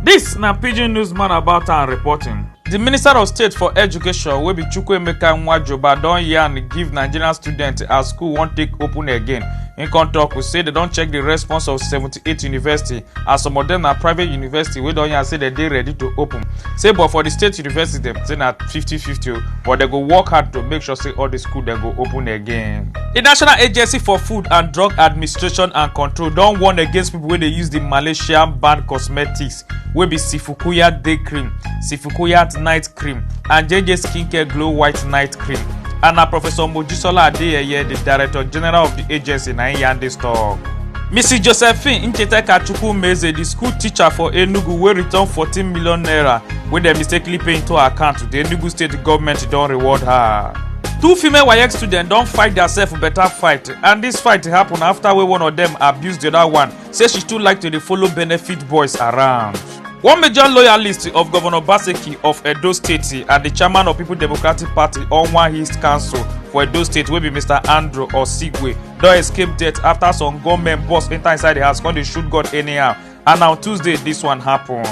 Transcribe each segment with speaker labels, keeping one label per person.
Speaker 1: This na pidgin newsman about am reporting. Di minister of state for education wey be Chukwuemeka Nwajoba don yarn give Nigerian students as school wan take open again. Im come tok say dem don check di response of 78 university as some of dem na private university wey don yarn say dem dey ready to open say but for di state university dem say na 50-50 o but dem go work hard to make sure say all di school dem go open again. di national agency for food and drug administration and control don warn against pipo wey dey use di malaysian banned cosmetics wey be sifukuya day cream sifukuya night cream and jj skincare glow white night cream and na professor mojisola adeyeye the director general of the agency na im yarn dis tok. mrs josephine ncheteka chukwumeze di school teacher for enugu wey return fourteen million naira wey dem mistakenly pay into her account to di enugu state goment don reward her. two female waec students don fight diasef beta fight and dis fight happun afta wey one of dem abuse di oda one say she too like to dey follow benefit boys around. One major loyalist of Governor Obaseki of Edo State and the chairman of People Democratic Party Onwa East Council for Edo State wey be Mr. Andrew Osigwe don escape death after some gunmen burst enter inside the house come dey shoot gun anyhow and na on Tuesday this one happen.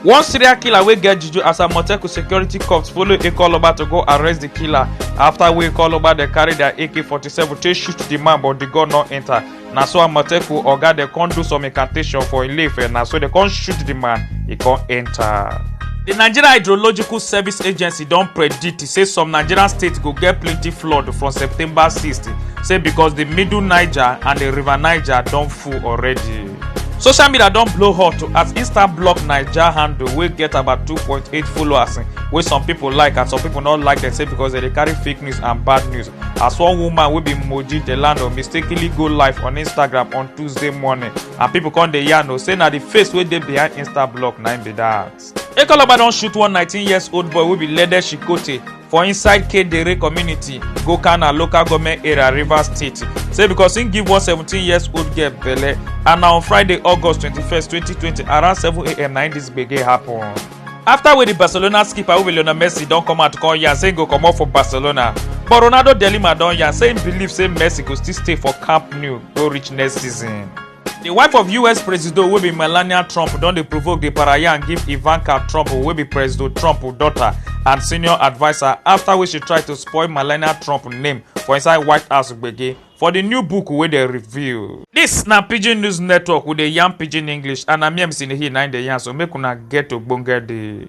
Speaker 1: One serial killer wey get juju as Amotekun security corps follow Ekoloba to go arrest the killer after wey Ekoloba dey carry their AK-47 take shoot the man but the gun no enter. na so amotekun oga dem come do some incantation for ileife na so dem come shoot the man e come enter. di nigeria hydrological service agency don predict say some nigerian states go get plenty flood from september 6 say because di middle niger and di river niger don full already. social media don blow hot as insta block naija handle wey get about 2.8 followers wey some pipo like and some pipo no like dem say because dem dey carry fake news and bad news. as one woman wey be moji delano mistakenly go live on instagram on tuesday morning and pipo come dey yarn o say na di face wey dey behind insta block na im be dat. ekologba don shoot one 19 years old boy wey be lede shikote for inside kedere community gokana local goment area rivers state say becos im give one 17 years old girl belle and na on friday august 21 2020 around 7am na im dis gbege happun. afta wey di barcelona skipper wey be lionel messi don come out come yarn say im go comot for barcelona but ronaldo de lima don yarn say im believe say messi go still stay for camp nou go reach next season. di wife of us presido wey be melania trump don dey provoke di parayan give ivanka trump wey be presido trump daughter and senior adviser afta wey she try to spoil melania trump name for inside white house gbege for di new book wey dem reveal. Dis na Pidgin News Network, we dey yarn Pidgin English and na me MC Nehi na im dey yarn so make una get ogbonge day.